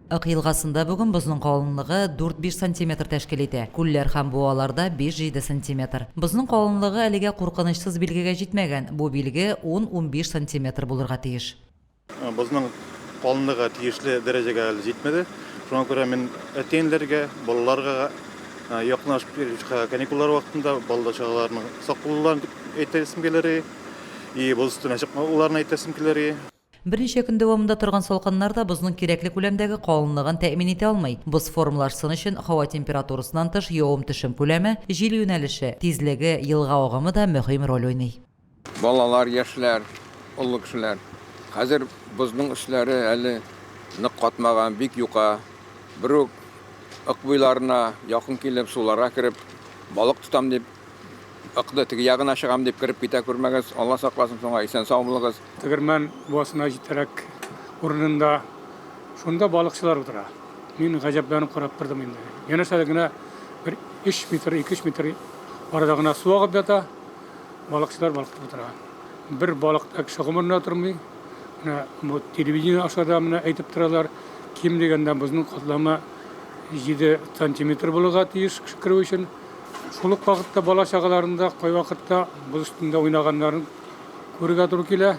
Ык елгасында бүген бозның калынлыгы дүрт-биш сантиметр тәшкил итә, күлләр һәм буаларда биш-җиде сантиметр. Бозның калынлыгы әлегә куркынычсыз билгегә җитмәгән, бу билге ун-унбиш сантиметр булырга тиеш. Бозның калынлыгы тиешле дәрәҗәгә әле җитмәде, шуңа күрә мин әти-әниләргә, балаларга якынлашып килүче каникуллар вакытында балалар чагаларының сак булуларын әйтәсем килер, и боз өстенә чыкмауларын әйтәсем килер. Берничә көн дәвамында торган салкыннар да бозның кирәкле күләмдәге калынлыгын тәэмин итә алмый. Боз формалашсын өчен һава температурасыннан тыш явым-төшем күләме, җил юнәлеше, тизлеге, елга агымы да мөһим роль уйный. Балалар, яшьләр, олы кешеләр. Хәзер бозның өсләре әле нык катмаган, бик юка. Берүк Ык буйларына якын килеп, суларга кереп, балык тотам дип, Ыкны теге ягына чыгам дип кереп китә күрмәгез, Алла сакласын соңа, исән-сау булыгыз. Тегермән буасына җитәрәк урынында шунда балыкчылар утыра. Мин гаҗәпләнеп карап тордым инде. Янәшә дә генә бер 3 метр, 2-3 метр арада гына су агып ята, балыкчылар балкытып утыра. Бер балык та кеше гомерендә тормый. Менә бу телевидение аша да менә әйтеп торалар, ким дигәндә бозның катламы 7 сантиметр булырга тиеш кеше керү өчен. Шул ук вакытта бала чагаларында кайвакытта боз өстендә уйнаганнарын күрергә туры килә.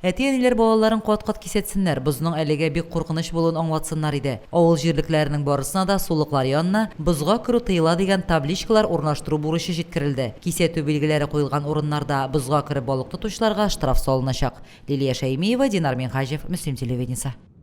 Әти-әниләр балаларын кат-кат кисәтсеннәр, бозның әлегә бик куркыныч булуын аңлатсыннар иде. Авыл җирлекләренең барысына да сулыклар янына Бозга керү тыела дигән табличкалар урнаштыру бурычы җиткерелде. Кисәтү билгеләре куелган урыннарда бозга кереп балык тотучыларга штраф салыначак. Лилия Шәймиева, Динар Минһаҗев, Мөслим телевидениесе.